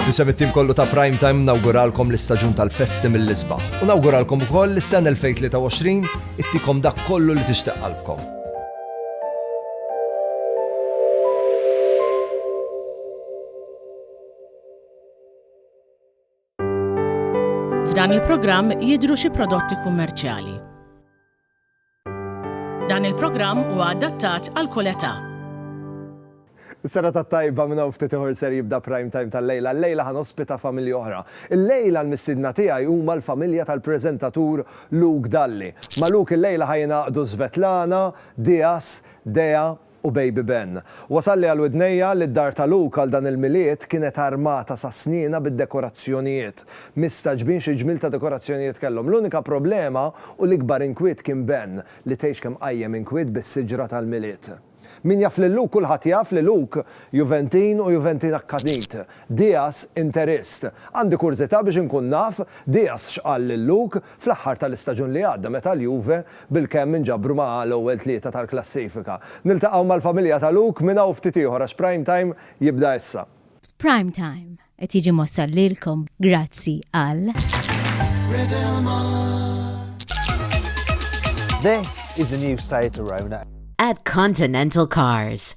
Fisem it-tim kollu ta' Prime Time nawguralkom l-istaġun tal-festi mill-isbaħ. U nawguralkom ukoll l-sena 2023 ittikom dak kollu li tixtieq qalbkom. F'dan il-programm jidhru xi prodotti kummerċjali. Dan il-programm huwa adattat għal kull età. Is-sena tat-tajba minn hawn ftit ieħor ser jibda Prime Time tal-lejla. Llejla ħa nospita familji oħra. Illejla l-mistiedna tiegħi huma l-familja tal-preżentatur Luke Dalli. Ma' Luke illejla ħa jingħaqdu Svetlana, Dias, Dea, u Baby Ben. Wasalli għal widnejja li d-dar ta' Luke għal dan il-Milied kienet armata sas-snienha bid-dekorazzjonijiet. Mistagħġbin xi ġmiel ta' dekorazzjonijiet kellhom. L-unika problema u l-ikbar inkwiet kien Ben, li tgħix kemm qajjem inkwiet bis-siġra tal-Milied. Min jaf lil Luke kulħadd jaf li Luke Juventin u Juventin akkanit. Diaz Interist. Għandi kurżità biex inkun naf Diaz x'qal lil Luke fl-aħħar tal-istaġun li għadda meta l-Juve bilkemm inġabru ma' l-ewwel tlieta tal-klassifika. Niltaqgħu mal-familja ta' Luke minn hawn ftit ieħor għax Prime Time jibda issa. Prime Time qed jiġi mwassal lilkom grazzi għal. This is the new site around. At Continental Cars.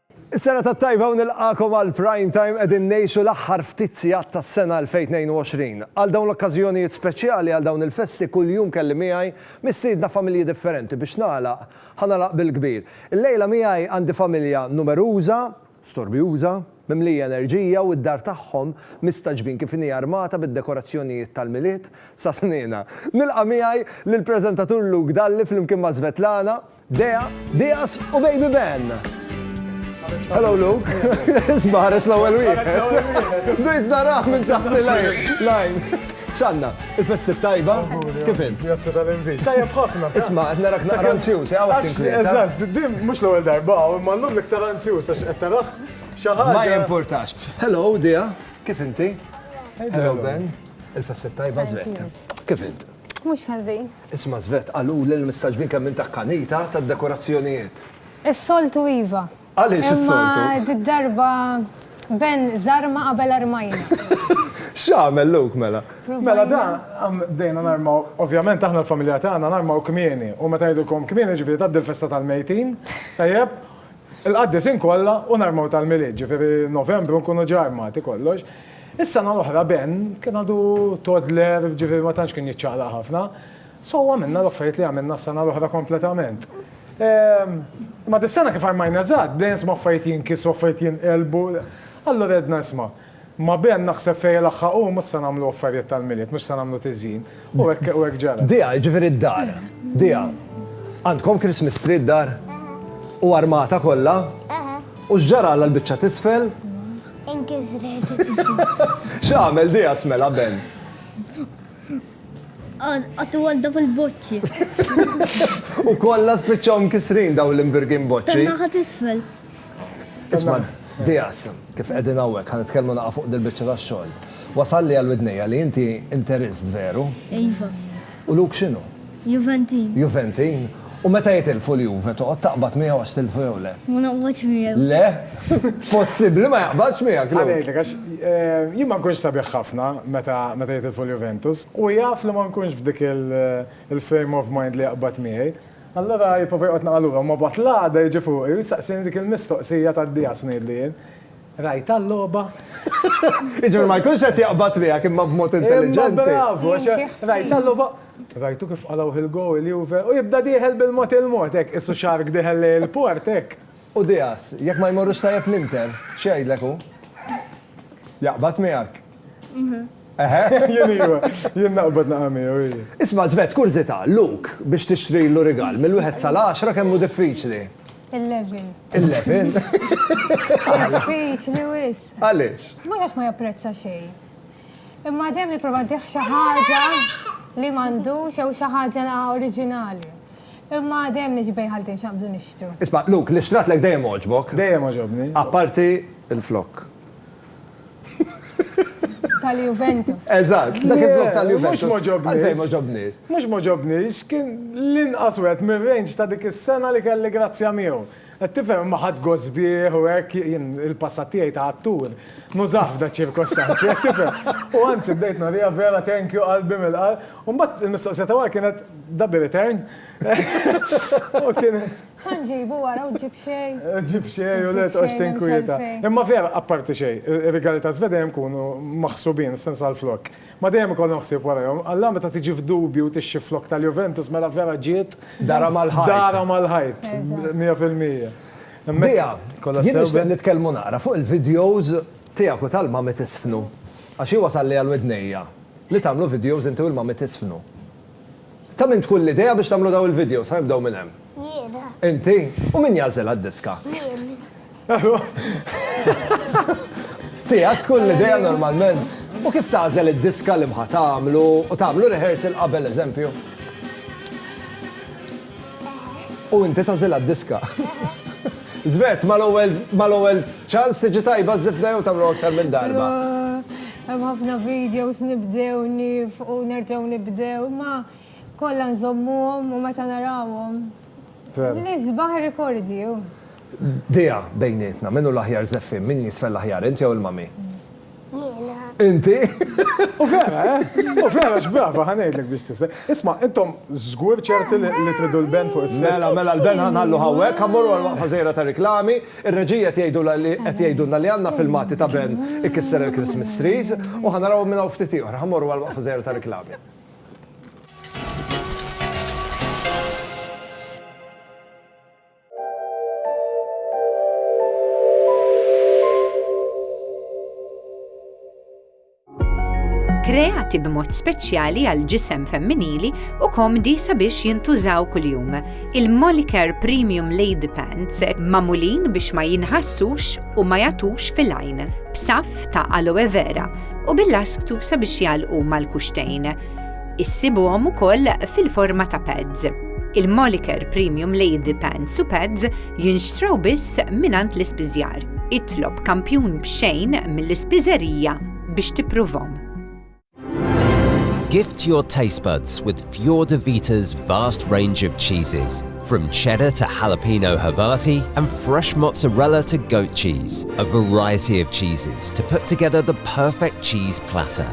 Is-sena tat-tajba u nilqagħkom għal Prime Time qegħdin ngħixu l-aħħar ftit sigħat tas-sena 2022. Għal dawn l-okkażjonijiet speċjali għal dawn il-festi kuljum kelli miegħi mistiedna familji differenti biex nagħlaq ħa nagħlaq bil-kbir. Illejla miegħi għandi familja numeruża, storbjuża, mimlija enerġija u d-dar tagħhom mistagħġbin kif inhi armata bid-dekorazzjonijiet tal-Milied sa snina. Nilqa' miegħi lill-preżentatur Luke Dalli flimkien ma' Svetlana, Dea, Diaz u Baby Ben. Hello Luke. Isma' ħares l-ewwel wieħed. Bdejt narah minn taħt il-lajn. Lajn. ċanna, il-festi tajba, kif int? Jazza tal-invit. Tajja bħafna. Isma, qed narak naqra anzjuż, għaw għax. Eżatt, din mhux l-ewwel darba, imma llum l-iktar anzjuż għax qed taraħ xi ħaġa. Ma jimpurtax. Hello, Dia, kif inti? Hello Ben, il-festi tajba żvetta. Kif int? Mhux ħażin. Isma' Svet, qaluli li mistagħġbin kemm int akkanita tad-dekorazzjonijiet. Is-soltu iva. Għaliex is-soltu? Imma did-darba Ben żarma qabel armajna. X'għamel Luke mela? Mela dan, bdejna narmaw, ovvjament aħna l-familja tagħna narmaw kmieni u meta ngħidilkom kmieni jiġifieri tgħaddi l-festa tal-mejtin, tajjeb, il-qaddisin kollha u narmaw tal-Milied, jiġifieri Novembru nkunu ġa armati kollox. Is-sena l-oħra Ben kien għadu toddler, ġifieri ma tantx kien jiċċaqlaq ħafna, so għamilna l-affarijiet li għamilna s-sena l-oħra kompletament. Imma dis-sena kif armajna żgħar, bdejna nisimgħu affarijiet jinkisru, affarijiet jinqelbu. Allura għedna isma', ma' Ben naħseb fejn ilaħħaq hu mhux se nagħmlu affarijiet tal-Milied, mhux se nagħmlu tiżjin. U hekk u hekk ġara. Dija, jiġifieri d-dar. Dija, għandkom Christmas tree d-dar? U armata kollha? Aha. U x'ġaralha l-biċċa t'isfel? Inkisret. X'għamel Dija smela Ben? Għatu għal daw il-boċċi. U kollha spiċċaw mkissrin daw l-imbirgin boċċi. Tan-naħa t'isfel. Isma' Diaz, kif qegħdin hawnhekk ħa nitkellmu naqa' fuq dil-biċċa tax-xogħol. Wasalli għal widnejja li inti Interist, veru? Iva. U Luke x'inhu? Juventin. Juventin? U meta jitilfu l-Juve toqgħod taqbad miegħu għax tilfu jew le? Ma noqgħodx miegħu. Le? Possibbli ma jaqbadx miegħek Luke? Ħa ngħidlek għax jien ma nkunx sabiħ ħafna meta jitilfu l-Juventus u jaf li ma nkunx f'dik il-frame of mind li jaqbad miegħi. Allura jipprova joqgħod naqa' lura u ma mbagħad l-għada jiġi fuqi u jistaqsini dik il-mistoqsija tad-dieqa x'ngħidlu jien. Rajtha l-logħba? Jiġifieri ma jkunx qed jaqbad miegħek imma b'mod intelliġenti. Imma bravu għax rajtha l-logħba? Rajtu kif qalgħuh il-goal il-Juve? U jibda dieħel bil-mod il-mod hekk qisu shark dieħel lejn il-port hekk. U dieqas, jekk ma jmorrux tajjeb l-Inter, x'jgħidlek hu? Jaqbad miegħek? Eħe, jien iva, jien naqbad naqa' miegħu, ii. Isma' Żved, kurżità, Luke, biex tixtrilu rigal, mill-wieħed sal-għaxra kemm hu diffiċli? Eleven. Eleven? Diffiċli wisq. Għaliex? Mhux għax ma japprezza xejn. Imma dejjem nipprova ddih xi ħaġa li m'għandux jew xi ħaġa oriġinali. Imma dejjem niġbej ħaltin x'għandu nixtru. Isma' Luke, li xtratlek dejjem għoġbok. Dejjem għoġobni. Apparti il-flokk. Tal-Juventus. Eżatt, dak il-flok tal-Juventus. Mux moġobni. Mux moġobni, xkien l-inqas wet minn range ta' dik is-sena li kelli grazzja miegħu. Qed tifhem imma ħadd gost bih u hekk jien il-passat tiegħi ta' attur. Nużah f'da ċirkostanzi, qed tifhem. U anzi bdejt nuriha vera thank you qalbi mill-qalb. U mbagħad il-mistoqsija ta' wara kienet da bi return? U kien. Xa nġibu wara u ġib xej. Ġib xej u let għax tinkwieta. Imma vera, apparti xej, ir-rigali ta' Żved dejjem kunu maħsubin, sens għal flok. Ma dejjem ikollhom ħsieb warajhom. Alla meta tiġi f'dubju u tixxi flok tal-Juventus mela vera ġiet. Darha mal-ħajt. Darha mal-ħajt. Mija fil-mija. Dea, jien nixtieq nitkellmu naqra fuq il-videos tiegħek u tal-Mami Tiżfnu. Għax hi wasalli għal widnejja li tagħmlu videos inti u l-Mami Tiżfnu. Ta' min tkun l-idea biex tagħmlu dawn il-videos? Ħa nibdew minn hemm. Jiena. Inti? U min jagħżilha d-diska? Jien. Tiegħek tkun l-idea normalment? U kif tagħżel id-diska li mħa tagħmlu u tagħmlu rehearsal qabel eżempju? U inti tagħżilha d-diska? Żvet, mal-ewwel ċans tiġi tajba żifda jew tagħmlu aktar minn darba? Hemm ħafna videos nibdew nifqu nerġgħu nibdew ma kollha nżommuhom u meta narawhom. Nisbaħ rikordi. Dejja bejnietna, min hu l-aħjar żeffien, min jiżfen l-aħjar, int jew il-mami? Jiena. Inti? U vera, eh? U vera x'brava ħa ngħidlek biex tiżfen. Isma', intom żgur ċerti li tridu l-ben fuq is-sett? Mela, mela l-ben ħa nħalluh hawnhekk, ħa mmorru għall-waqfa żgħira tar-riklami. Ir-reġiji qed jgħidulha li qed jgħidulna li għandna filmati ta' Ben ikisser il-Christmas trees u ħa narawhom minn hawn ftit ieħor. Ħa mmorru għall-waqfa żgħira ta' riklami. kreati b'mod speċjali għal ġisem femminili u komdi sabiex jintużaw kuljum. Il-Molicare Premium Lady Pants mamulin biex ma jinħassux u ma jatux fil-għajn, b'saf ta' aloe vera u bil-lasktu sabiex jalqu mal-kuxtejn. Issibuhom ukoll fil-forma ta' pads. Il-Moliker Premium Lady Pants u Pads jinxtraw biss minant l-ispiżjar. Itlob kampjun b'xejn mill-ispiżerija biex tippruvhom. Gift your taste buds with Fjord Vita's vast range of cheeses. From cheddar to jalapeno Havarti and fresh mozzarella to goat cheese, a variety of cheeses to put together the perfect cheese platter.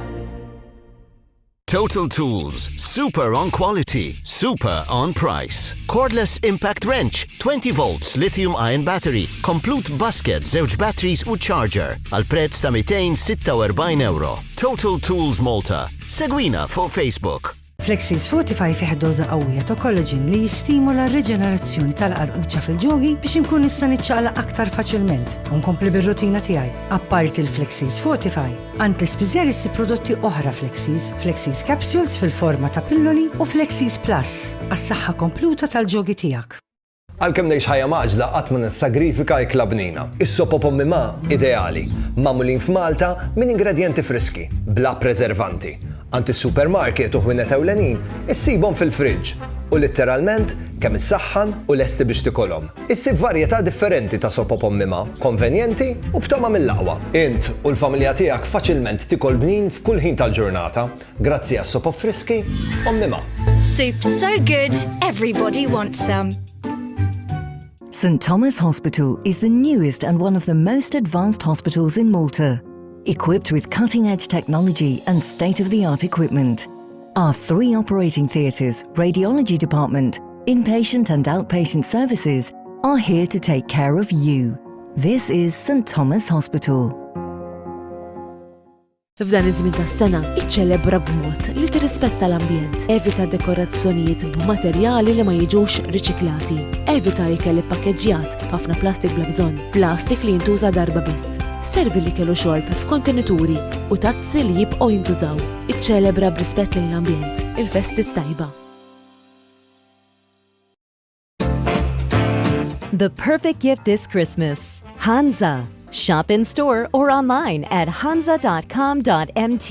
Total Tools, super on quality, super on price. Cordless Impact Wrench, 20 volts lithium ion battery, komplut basket, zewġ batteries u charger, għal prezz ta' 246 euro. Total Tools Malta. Segwina fuq Facebook. Flexis Fortify fih doza qawwija ta' kollaġin li jistimula r-riġenerazzjoni tal-qarquċa fil-ġogi biex inkun nista' niċċaqla aktar faċilment u nkompli bir-rutina tiegħi. Apparti l-Flexis Fortify, Għand l-ispiżer issib prodotti oħra Flexies, Flexies Capsules fil-forma ta' pilloli u Flexies Plus għas-saħħa kompluta tal-ġogi tiegħek. Għalkemm ngħix ħajja mgħaġġla qatt ma nissagrifika ikla bnina. Is-sop u pommi ma' ideali, magħmulin f'Malta minn ingredjenti friski, bla preservanti. Għand is-supermarket u ħwienet ewlenin issibhom fil-friġġ u litteralment kemm issaħħan u lesti biex tikolhom. Issib varjetà differenti ta' sopop ommima, konvenjenti u b'togħma mill-aqwa. Int u l-familja tiegħek faċilment tikol bnin f'kull ħin tal-ġurnata, grazzi għas-sopop friski ommima. Soup so good, everybody wants some. St Thomas Hospital is the newest and one of the most advanced hospitals in Malta, equipped with cutting-edge technology and state-of-the-art equipment. Our three operating theatres, radiology department, inpatient and outpatient services are here to take care of you. This is St Thomas Hospital. F'dan iż-żmien tas-sena, iċċelebra b'mod li tirrispetta l-ambjent. Evita dekorazzjonijiet b'materjali li ma jiġux riċiklati. Evita ikel ippakeġġjat b'ħafna plastik bla bżonn, plastik li jintuża darba biss. Servi li kellu xorb f'kontenituri u tazzi li jibqgħu jintużaw. Iċċelebra b'rispett lejn l-ambjent il-festi t-tajba. The perfect gift this Christmas. Hansa. Shop in store or online at hansa.com.mt.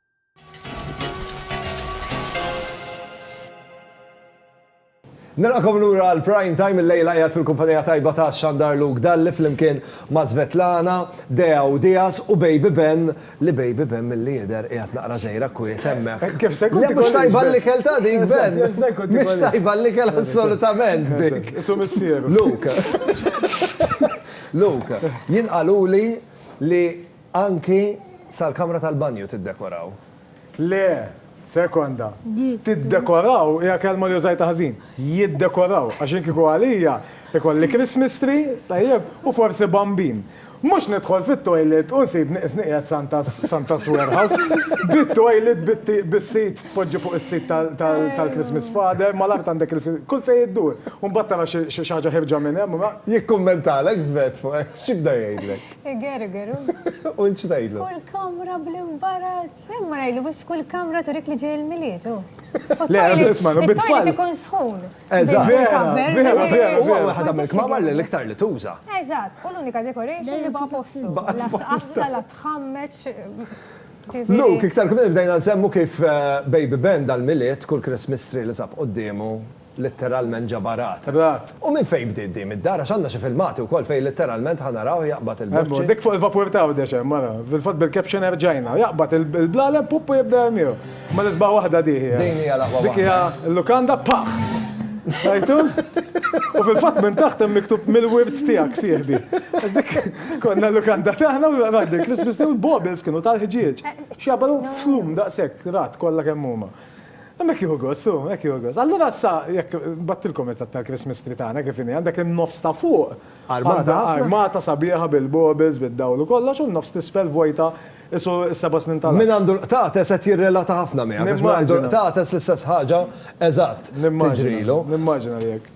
Nilqakom lura għal prime time il-lejla jgħat fil-kumpanija tajba ta' Xandar Luke Dalli fl-imkien ma' Svetlana, Dea u Dias u Baby Ben li Baby Ben mill-li jider jgħat naqra zejra kwiet emmek. Kif se kont? Mux tajba l-likel ta' dik Ben. Mux tajba l-likel assolutament dik. Isu missieru. Luke. Luke, jien qaluli li Anki sal-kamra tal-banju tiddekoraw. Le, sekonda. Tiddekoraw hija kelma li użajtha ħażin. Jiddekoraw, għax jien kieku għalija, ikolli Christmas tree, tajjeb, u forsi bambin. Mhux nidħol fit-toilet u nsib nieqed Santa's Santa's warehouse, bit-toilet, bis-sit, tpoġġi fuq is-sit tal-Christmas father, mal-art għandek il-, kull fejn iddur. U mbagħad tara xi ħaġa ħierġa minn hemm. Jikkummentalek Svet fuq hekk, x'jibda jgħidlek? Igeru, geru. U nċ tajdlu? Kull kamra bl-imbarat. Imma najdu biex kull kamra turik li ġej il-miliet. Le, isma, no bit tfal. Ikun sħun. Eżatt. Vera, vera, vera. U għu ħadam il-kmamar li l-iktar li tuża. Eżatt, u l-unika decoration li baqa postu. Baqa postu. La tħammeċ. Luke, iktar kmini bdejna nsemmu kif eh, Baby Ben dal-miliet, kull Christmas tree li sab qoddemu, Litteralment ġabha rat. Rat. U minn fejn bdiet din? Mid-dar? Għax għandna xi filmati wkoll fejn litteralment ħa narawh jaqbad il-boċċi. Ebbo, dik fuq il-vapur ta' Għawdex hemm, ara. Fil-fatt bil-caption erġajna. Jaqbad il-blaleb, pupp u jibda jermiehu. Imma l-isbaħ waħda di hija. Din hija l-aqwa waħda. Dik hija l-lukanda, paħ! Rajtu? U fil-fatt minn taħt hemm miktub Mill-wirt tiegħek, sieħbi. Għax dik konna l-lukanda tagħna u rat bil-Christmas tree u l-baubles kienu tal-ħġieġ. X'jaqbadu flum daqshekk, rat, kollha kemm huma. Imma hekk jieħu gost hu, hekk jieħu gost. Allura issa jekk nbattilkom it-tatt tal-Christmas tree tagħna kif inhi, għandek in-nofs ta' fuq Armata ħafna. armata sabiħa bil-baubles, bid-dawl u kollox u n-nofs t'isfel vojta qisu s-seba' snin tal-għaks. Min għandu l-qtates qed jirrelata ħafna miegħek għax min għandu l-qtates l-istess ħaġa eżatt tiġrilu. Nimmaġina li hekk.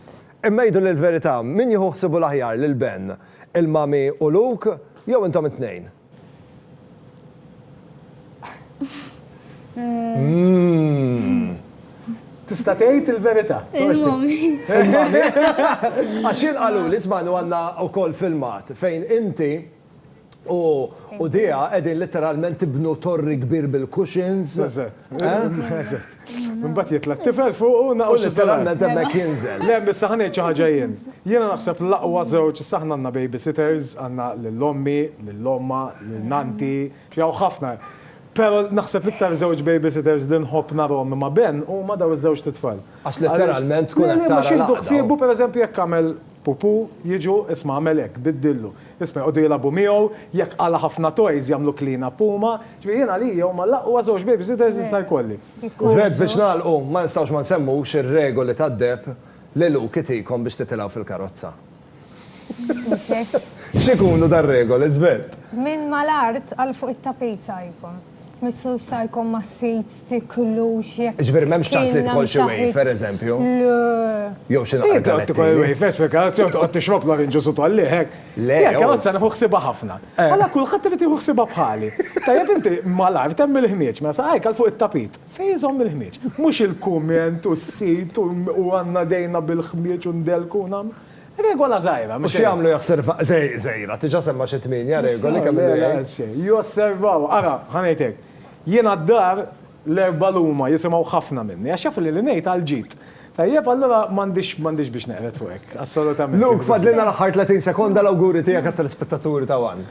Imma għiduli l-verità, min jieħu ħsiebu l-aħjar lil Ben, il-mami u Luke jew intom it-tnejn? Tista' tgħid il-verità. Għax jien qaluli żmanu għandna wkoll filmat fejn inti u Dea qegħdin litteralment tibnu torri kbir bil-cushions. Eżatt. Mbagħad jitla' t-tifel fuq u naqgħu xi saranna temmek jinżel. Le, issa ħanejt xi ħaġa jien. Jiena naħseb l-aqwa żewġ, issa aħna għandna babysitters, għandna lil ommi, lil ommha, lil nannti, hawn ħafna. Però naħseb l-iktar żewġ babysitters li nħobb narhom imma Ben huma dawn iż-żewġ titfal. Għax letteralment tkun qed tara l-għaqda. Jieħdu ħsiebu pereżempju jekk għamel pupu, jiġu isma' għamel hekk, biddillu. Biss ma jqogħdu jilagħbu miegħu, jekk qala' ħafna toys jagħmlu clean up huma. Ġifieri jien għalija huma l-aqwa żewġ babysitters li jista' jkolli. Żved Biex nagħlqu, ma nistgħux ma nsemmux ir-regoli tad-deheb li Luke itikom biex titilgħu fil-karozza. X'ikunu dar-regoli, Żved? Minn mal-art għal fuq it-tapejt saħibkom. Mistux sa jkun ma s-sit tiklux jekk. Ġbir memx ċans li tkun xi wejf, per eżempju. Jew xi naqra. Jibda tkun wejf, espjega, jew toqgħod tixrob l-orinġu su tolliħek. Le. Jekk għadza nieħu ħsiba ħafna. Alla kulħadd irid jieħu ħsiba bħali. Tajjeb inti malajr temm il-ħmieġ, mela saqajk għal fuq it-tapit. Fejn iżomm il-ħmieġ? Mhux il-kumment u s-sit u għandna dejna bil-ħmieġ u ndelku u nagħmlu. Regola żgħira, mhux xejn. U x'jagħmlu josservaw, żgħira, diġà semma xi tmienja regoli kemm ilu jgħid. Josservaw, ara, ħa ngħid hekk, jiena d-dar l-erbgħa l-huma jisimgħu ħafna minni għax jafu li li ngħid għal ġid. Tajjeb, allura m'għandix biex neqred fuq hekk, assolutament. Luke, fadlilna l-aħħar 30 sekonda l-awguri tiegħek għat-telespettaturi ta' one.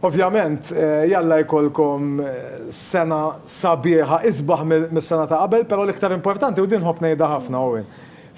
Ovvjament, jalla jkollkom sena sabiħa, isbaħ mis-sena ta' qabel, però l-iktar importanti, u din nħobb ngħidha ħafna, Owen,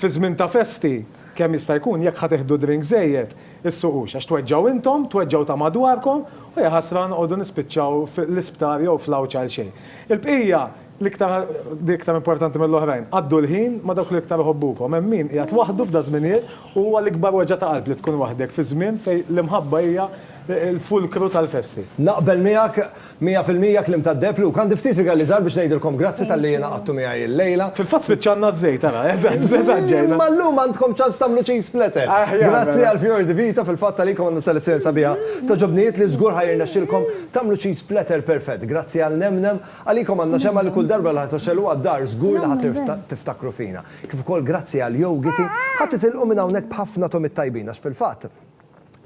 fi żmien ta' festi, Kemm jista' jkun, jekk ħa tieħdu drink żejjed, issuqux, għax tweġġgħu intom, tweġġgħu ta' madwarkom, u jaħasra noqogħdu nispiċċaw fl-isptar jew fl-għawġ għal xejn. Il-bqija, l-iktar, li iktar importanti mill-oħrajn, għaddu l-ħin ma' dawk li iktar iħobbukom. Hemm min qiegħed waħdu f'daż-żminijiet u huwa l-ikbar weġgħa ta' qalb li tkun waħdek fi żmien fejn l-imħabba hija l-fulkru tal-festi. Naqbel miegħek Mija fil-mija kliem tad-deheb Luke. Għandi ftit rigali żgħar biex ngħidilkom grazzi talli ingħaqadtu miegħi illejla. Fil-fatt spiċċalna ż-żejt, ara, eżatt, eżatt ġejna. Imma llum għandkom ċans tagħmlu cheese splatter. Aħjar mela. Grazzi għal Fior di Vita, fil-fatt għalikom għandna selezzjoni sabiħa ta' ġobnijiet li żgur ħa jirnexxilkom tagħmlu cheese splatter perfett. Grazzi għal Nemnem, għalikom għandna xemgħa li kull darba li ħa tgħoxxeluha d-dar żgur li ħa tiftakru fina. Kif ukoll grazzi għal Yogiti, ħa titilqu minn hawnhekk b'ħafna togħmiet tajbin għax fil-fatt,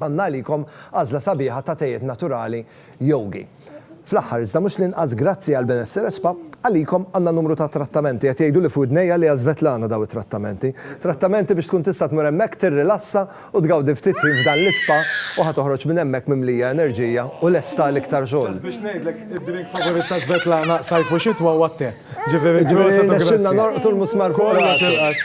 Għandna għalikom għażla sabiħa ta' tejjiet naturali Yogi. Fl-aħħar, iżda mhux l-inqas grazzi għall-benessir ESPA, għalikom għandna numru ta' trattamenti, qed jgħiduli f'widnejja li għaSvetlana daw it-trattamenti. Trattamenti biex tkun tista' tmur hemmhekk tirrilassa u tgawdi ftit ħin f'dan l-ispa u ħa toħroġ minn hemmhekk mimlija enerġija u lesta għal iktar xogħol. Ġast biex ngħidlek, id-drink favorit ta' Svetlana, sajf u xitwa, huwa t-te. Ġifieri, proset u grazzi. Ġifieri rnexxilna norqdu l-musmar fuq rasi. Kollox il-qas.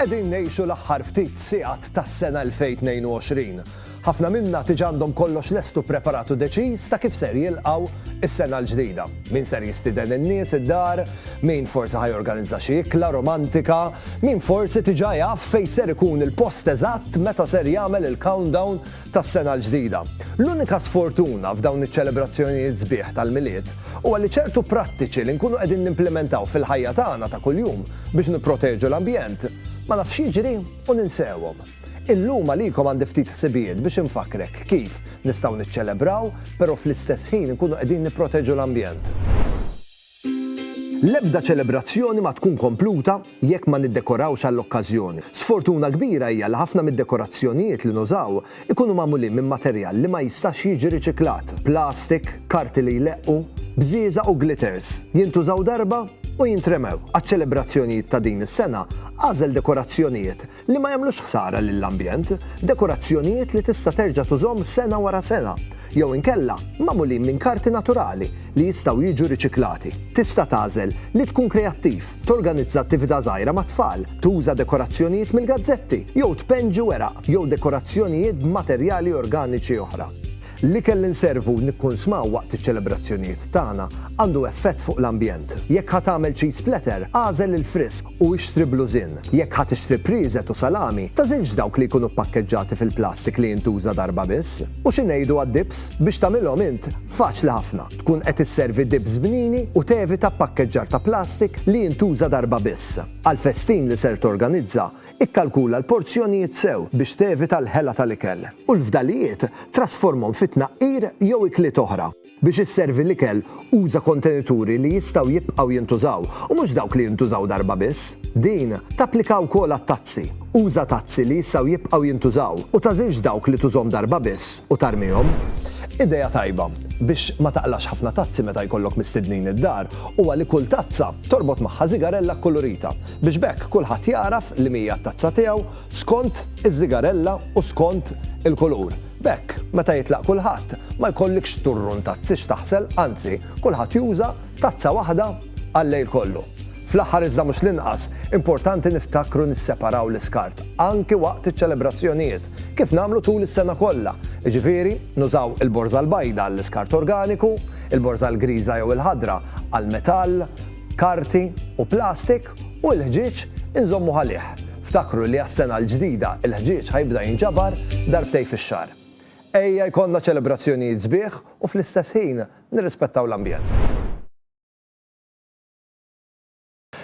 Qegħdin ngħixu l-aħħar ftit sigħat tas-sena 2022. Ħafna minna tiġa għandhom kollox lest u ppreparat u deċiż ta' kif ser jilqgħu s-sena l-ġdida. Min ser jistieden in-nies id-dar, min forsi ħa jorganizza xi ikla romantika, min forsi tiġa jaf fejn ser ikun il-post eżatt meta ser jagħmel il-countdown tas-Sena l-Ġdida. L-unika sfortuna f'dawn iċ-ċelebrazzjonijiet sbieħ tal-Milied huwa li ċertu prattiċi li nkunu qegħdin nimplimentaw fil-ħajja tagħna ta' kuljum biex nipproteġu l-ambjent, ma nafx jiġri u ninsewhom. Illum għalikom għandi ftit ħsibijiet biex infakkrek kif nistgħu niċċelebraw, però fl-istess ħin nkunu qegħdin nipproteġu l-ambjent. L-ebda ċelebrazzjoni ma tkun kompluta jekk ma niddekorawx għall-okkażjoni. Sfortuna kbira hija li ħafna mid-dekorazzjonijiet li nużaw ikunu magħmulin minn materjal li ma jistax jiġi riċiklat, plastik, karti li jleqqu, bżieżaq u glitters. Jintużaw darba u jintremew. Għaċ-ċelebrazzjonijiet ta' din is-sena, agħżel dekorazzjonijiet li ma jagħmlux ħsara lill-ambjent, dekorazzjonijiet li tista' terġa' tużhom sena wara sena, jew inkella magħmulin minn karti naturali li jistgħu jiġu riċiklati. Tista' tagħżel li tkun kreattiv, torganizza attività żgħira mat-tfal, tuża dekorazzjonijiet mill-gazzetti, jew tpenġi weraq jew dekorazzjonijiet b'materjali organiċi oħra. L-ikel li nservu u nikkunsmaw waqt iċ-ċelebrazzjonijiet tagħna għandu effett fuq l-ambjent. Jekk ħa tagħmel cheese platter, agħżel il-frisk u ixtri blużin. Jekk ħa tixtri prieżet u salami, tagħżilx dawk li jkunu ppakkeġġati fil-plastik li jintuża darba biss. U xi ngħidu għad-dips? Biex tagħmilhom int, faċli ħafna. Tkun qed isservi dips bnini u tevita ppakkeġġar ta' plastik li jintuża darba biss. Għall-festin li ser torganizza, Ikkalkula l-porzjonijiet sew biex tevita l-ħela tal-ikel, u l-fdalijiet trasformhom fi tnaqqir jew ikliet oħra. Biex isservi l-ikel, uża kontenituri li jistgħu jibqgħu jintużaw u mhux dawk li jintużaw darba biss. Din tapplika wkoll għat-tazzi. Uża tazzi li jistgħu jibqgħu jintużaw u tagħżilx dawk li tużhom darba biss u tarmihom. Idea tajba biex ma taqlax ħafna tazzi meta jkollok mistednin id-dar huwa li kull tazza torbot magħha żigarella kkulurita. biex b'hekk kulħadd jagħraf li m'hija t-tazza tiegħu skont iż-żigarella u skont il-kulur. B'hekk, meta jitlaq kulħadd, ma jkollikx xturrun tazzi x'taħsel, anzi, kulħadd juża tazza waħda għal-lejl kollu. Fl-aħħar iżda mhux l-inqas, importanti niftakru nisseparaw l-iskart anki waqt iċ-ċelebrazzjonijiet, kif nagħmlu tul is-sena kollha, jiġifieri nużaw il-borża l-bajda għall-iskart organiku, il-borża l-griża jew il-ħadra għall-metall, karti u plastik u l-ħġieġ inżommu ghalih. Ftakru li għas-sena l-ġdida l-ħġieġ ħa jibda jinġabar darbtej fix-xahar. Ejja jkollna ċelebrazzjonijiet sbieħ u fl-istess ħin nirrispettaw l-ambjent.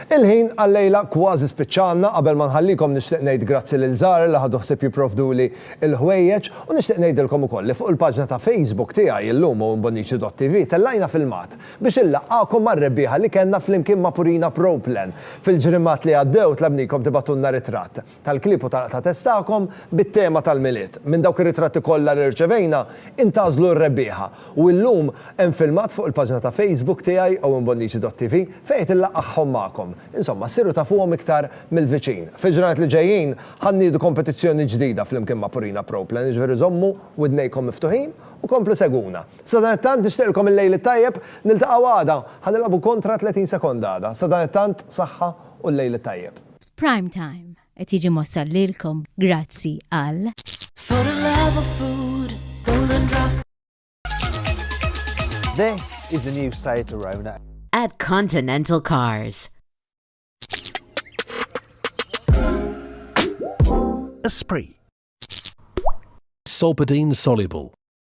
Il-ħin għal-lejla kważi spiċċa għandna, qabel ma nħallikom nixtieq ngħid grazzi lil Zahra li ħadu ħsieb jipprovduli l-ħwejjeġ u nixtieq ngħidilkom ukoll li fuq il-paġna ta' Facebook tiegħi llum u imbonniċi dott TV tellajna filmat Biex inlaqqagħkom mar-rebbieħa li kellna flimkien ma' Purina Pro Plan fil-ġrimgħat li għaddew tlabnikom tibgħatulna ritratt tal-klieb u tal-qtgħa tagħkom bit-tema tal-Milied. Minn dawk ir-ritratti kollha li rċevejna, intgħażlu r-rebbieħa u illum hemm filmat fuq il-paġna ta' Facebook tiegħi owenbonnici.tv fejn qed inlaqqagħhom magħkom. Insomma, ssiru tafuhom iktar mill-viċin. Fil-ġranet li ġejjin ħa nniedu kompetizzjoni ġdida flimkien ma' Purina Pro Plan, jiġifieri żommu widnejkom miftuħin u komplu segwuna. Sadanittant nixtieqlkom il-lejl it-tajjeb, niltaqgħu għada, ħa nilgħabu kontra 30 sekonda għada. Sadanittant saħħa u l-lejl it-tajjeb. Prime Time qed jiġi mwassal lilkom grazzi għal. For the love of food, golden drop. This is the new Seat Arona. At Continental Cars. Esprit. Solpadeine soluble.